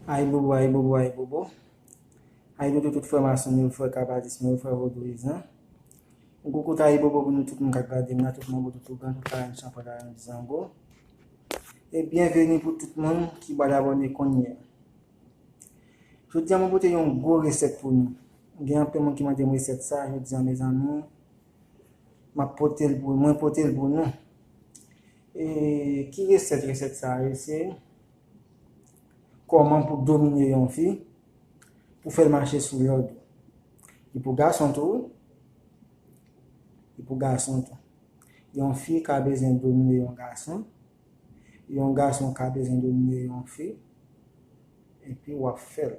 Ayibobo ayibobo ayibobo Ayibobo tout frèm a sèm yo frè kabalis mwen yo frè vodouiz lan Yon gwo kout ayibobo pou nou tout moun kap gadem la tout manbo tout ougan tout larenn chanpwèl larenn zango e byenveni pou tout moun ki bal abòne kounyea Jodia mwen pote yon gwo resèt pou nou gen anpil moun ki mandem resèt sa jodia mezanmi map potel pou mwen potel pou nou e ki resèt resèt sa ye se. Kòman pou domine yon fi, pou fèl mache sou lòd ou. Li pou gason tou wi. Li pou gason tou. Yon fi ka bezwen domine yon gason, yon gason ka bezwen domine yon fi, epi wap fèl.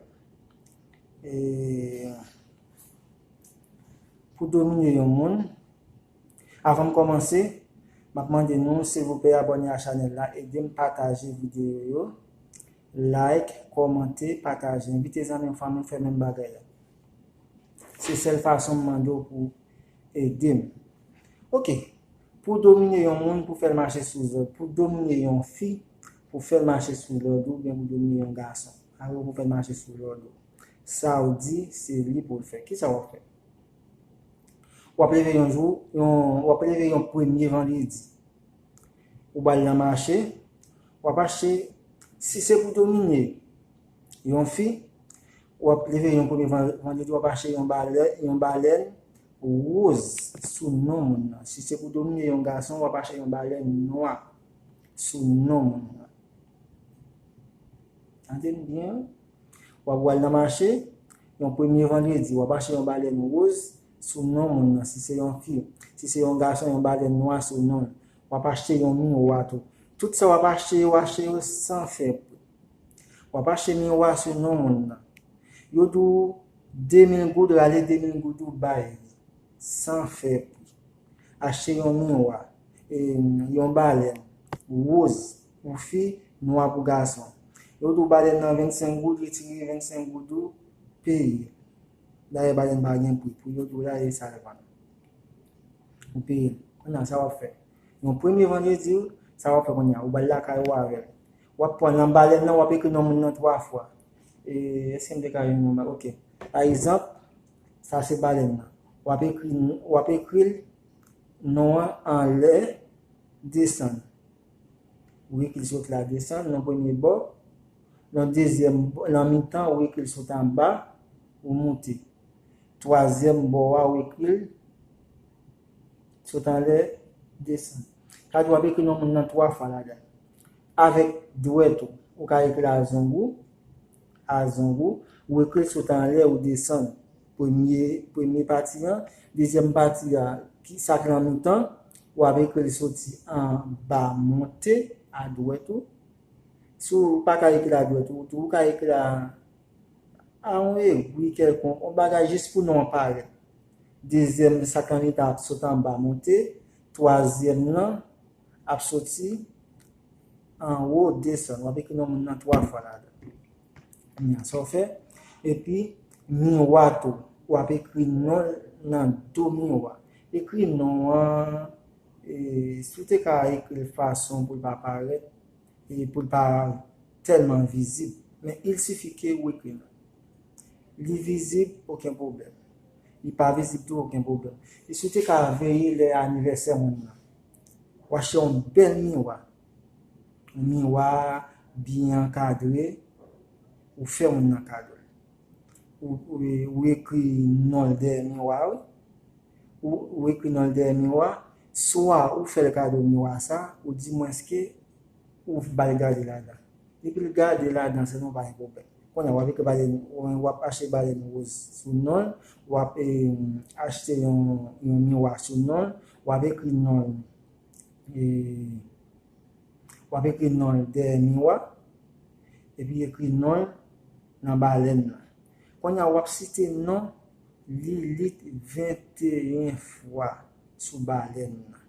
E pou domine yon moun, Avan m kòmanse, m ap mande nou silvouplè abòne a chanèl la, ede m pataje videyo yo, like, kòmante, pataje, envite zanmi ou fanmi w fè menm bagay la. Se sèl fason m mande w pou w ede m. Ok, pou w domine yon moun, pou w fè l mache sou zòd, pou w domine yon fi, pou w fè l mache sou lòd ou, oubyen pou w domine yon gason, alò pou w fè l mache sou lòd ou, sa w di se li pou l fè, kisa w ap fè? W ap leve yon jou, w ap leve yon premye vandredi. Ou ba l nan mache, w ap achte, si se pou domine yon fi, w ap leve yon premye vandredi, w ap achte yon balèn woz sou non moun nan. Si se pou domine yon gason, w ap achte yon balèn nwa sou non moun nan. Tande m byen. W ap wal nan mache, yon premye vandredi, w ap achte yon balèn woz sou non moun nan si se yon fi. Si se yon gason, yon balèn nwa sou non l. W ap achte yon miwa tou. Tout sa w ap achte yo, achte yo san fè pri. W ap achte miwa sou non moun nan. Yo di w 2 mil goud rale 2 mil goud ou bay li san fè pri. Achte yon miwa, yon balèn woz pou fi, nwa pou gason. Yo tou badèn nan 25 goud, retire 25 goud ou, peye. Dayè badèn pa gen pri, pou yo di w la e sa yo vann. Ou peye l. Kounye a, sa w ap fè? Yon premye vandredi, sa w ap fè kounye a? Ou ba l lakay ou avè l. W ap pran nan badèn nan, w ap ekri non moun nan 3 fwa. E, èske m te ka jwenn yon bagay? Ok. Pa egzanp, sa se badèn nan. W ap ekri, w ap ekri l non an anlè, desann. Wii kil sot la desann nan premye bò, nan dezyèm nan mitan wii kil sot anba ou moute. Twazyèm bò a wii kil sot anlè desann. Sa di wap ekri non moun nan 3 fwa ladan. Avèk dwèt ou, ou ka ekri a zong ou, a zong ou, wii kil sot anlè ou desann. Premye, premye pati an. Dezyèm pati a, ki sa k lan mitan, ou ap ekri l soti an ba monte adwèt ou. Si w pa ka ekri l adwèt ou tou, ou ka ekri l a a yon egwi kèlkonk, yon bagay jis pou non an parèt. Dezyèm, sa k lan mitan an ap sot an ba monte. Twazyèm lan ap soti an wo desann. W ap ekri non moun nan twa fwa ladan. Kounya sa w fè? Epi Miwa tou, w ap ekri non l nan do miwa. Ekri non an, si w te ka ekri l fason pou l pa parèt, pou l pa tèlman vizib. Men il sifi ke ou ekri non. Li vizib, oken pwoblèm. Li pa vizib tou, oken pwoblèm. E si w te ka veye lè anivèsè moun nan? W achte yon bèl miwa. Miwa a byen ankadre, ou fè moun nan kadol. Ou ekri non l dèyè miwa a wi. Ou ekri non l dèyè miwa a, swa ou fè l kado miwa a sa, ou di mwenske ou ba l gade ladan. Depi l gade ladan se nou pa gen pwoblèm. Kounye a w ap ekri balèn, w ap achte balèn woz sou non l, w ap achte yon miwa sou non l, w ap ekri non l. w ap ekri non l dèyè miwa, epi ekri non l nan balèn nan. Kounye a, w ap site non Lilit 21 fwa sou balèn nan.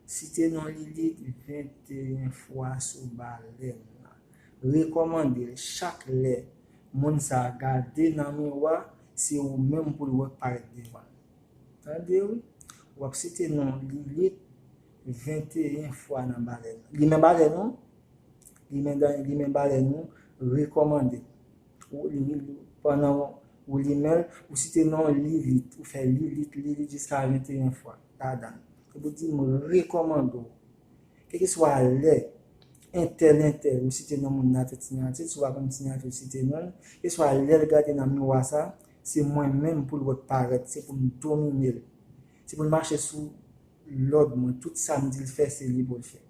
Site non Lilit 21 fwa sou balèn nan. Rekòmande l chak lè moun sa a gade nan miwa, se ou menm pou l wè k parèt devan l. Tande wi. Wap site non Lilith 21 fwa nan balèn. Li men balèn non. Li men dan li men balèn non. Rekomande. Ou li men li pandan ou li menl ou site non Lilith. Ou fè Lilith Lilith jiska 21 fwa ladann. Epi ou di m rekomande w. Kèlkeswa lè entèl entèl ou site non moun nan atè ti nan atè. Si w pa konn ti nan atè ou site non l. Kèlkeswa lèl gade nan miwa sa Se mwen menm pou l wè parèt se pou m domine l se pou l mache sou lòd mwen tout sa m di l fè se li pou l fè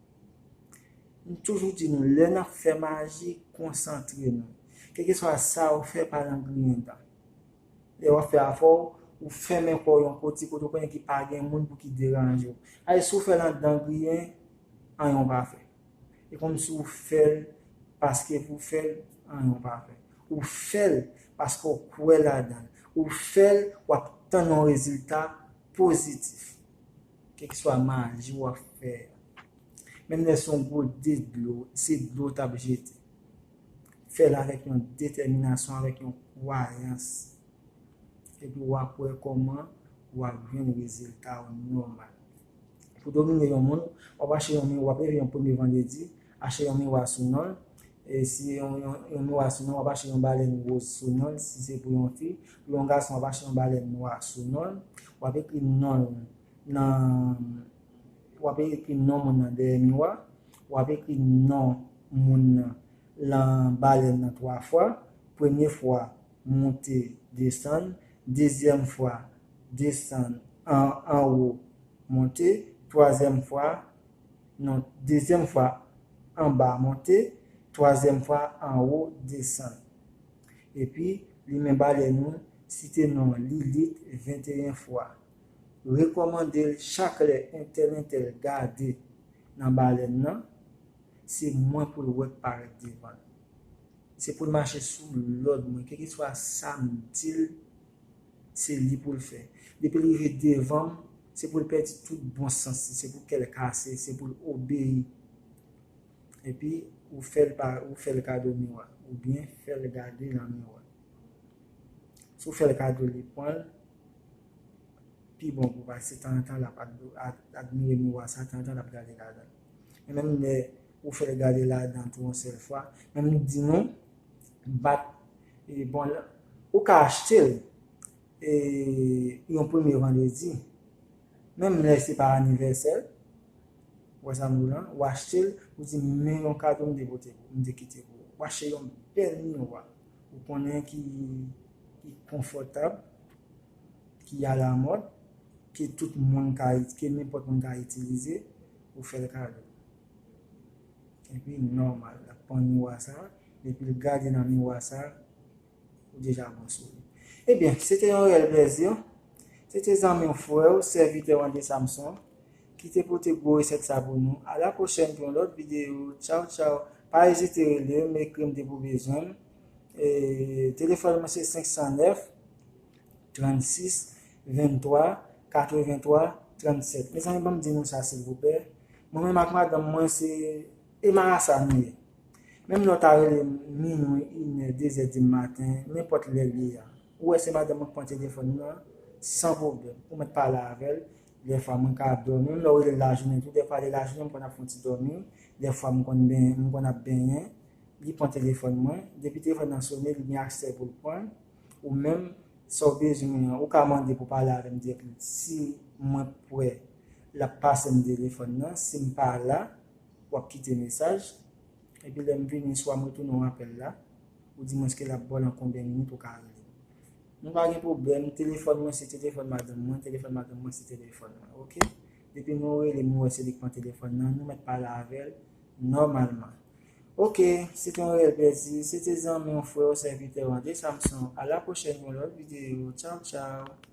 m toujou di nou lè n ap fè maji konsantre nou kèlkeswa sa ou fè pa nan griyen dan lè w ap fè afè w ou fèmen kò w yon koti kote ou konnen ki pa gen moun pou ki deranje w paske si w fè l andan griyen anyen w pa fè E konn si ou fèl paske pou fèl an non ou pa fèl. Ou fèl paske ou kwè ladanl. Ou fèl wap tann yon rezilta pozitif. Kèlkiswa maji wap fè a. Menm lè son gwo de dlo, se dlo ou tap jete. Fèl avèk yon detèminasyon, avèk yon kwayans. Epi wap wè kòman wap jwenn rezilta ou nòmal. Pou domine yon moun, w ap achte yon miwa, w ap leve yon premye vandredi, achte yon miwa sou non l, si se yon miwa sou non, w ap achte yon balèn woz sou non l, si se pou yon fi, pou yon gason w ap achte yon balèn nwa sou non l, w ap ekri non l nan, w ap ekri non moun nan dèyè miwa, w ap ekri non moun nan lan balèn nan 3 fwa, premye fwa, monte, desann, dezyèm fwa, desann an anwo monte twazyèm fwa non dezyèm fwa anba monte twazyèm fwa anwo desann epi li men balè nou site non Lilit 21 fwa rekòmande l chak lè entèl entèl gade nan balèn nan se mwen pou l wè k parèt devan l se pou l mache sou lòd mwen kèlkeswa sa m di l Se li poul fè. Depil rive devanm se poul pèdi tout bon sans li se pou kèl kase se poul obeyi epi ou fèl pa ou fèl kado miwa oubyen fèl gade nan miwa si ou fèl kado li pwanl pi bon pou paske tanzantan lap admire miwa sa tanzantan lap gade ladanl menm lè ou fè gade ladan tou yon sèl fwa, men m di nou bat e bon l ou ka achte l e yon premye vandredi menm lè se pa anivèsè l ou wè sa m di w la ou achte l ou di men yon kado m te pote pou m te kite pou ou achte yon bèl miwa ou konnen ki konfòtab ki alamòd ke tout moun ka ke nenpòt moun ka itilize ou fè l kado. Epi nòmal lap pran miwa sa, depil gade nan miwa sa, ou deja bon sou li. Ebyen, se te yon reyèl plèzi. Se te zanmi w, frè w, sèvitè w André Samson ki te pote gwo resèt sa pou nou. A la pwochèn pou yon lòt videyo. Tchaw tchaw. Pa ezite rele m, ekri m depi w bezwen m. Telefòn mwen se 509. 36 23 83 37 mezanmi banm di nou sa silvouplè mwen menm ak madanm mwen se e marasa nou ye menm lè w ta rele m minwi inè dezè di maten nenpòt lè l ye a ou wè se madanm mwen k pran telefòn mwen an san pwoblèm ou mèt pale avè l dèfwa mwen ka ap dòmi menm lè w rele l lajounen tou dèfwa lè lajounen m konn ap fon ti dòmi dèfwa m konn benyen m konn ap benyen li pran telefòn mwen depi telefòn nan sone li gen aksè pou l pran l. Ou menm, sa w bezwen mwen an, ou ka mande pou pale avè m dirèkteman. Si mwen pwè, l ap pase m telefòn nan. Si m pa la, w ap kite mesaj. Epi lè m vini, swa m retounen w apèl la, oudimwens ke l ap ba w lan konbyen minit ou ka rele m. Nou pa gen pwoblèm, telefòn mwen se telefòn madanm mwen, telefòn madanm mwen se telefòn mwen. Ok? Depi nou rele m nou wè se li k pran telefòn nan, nou mèt pale avè l. Nòmalman. Ok, se te yon reyèl plèzi, se te zanmi w, frè w, sèvitè w André Samson, a la pwochèn pou yon lòt videyo, tchaw tchaw!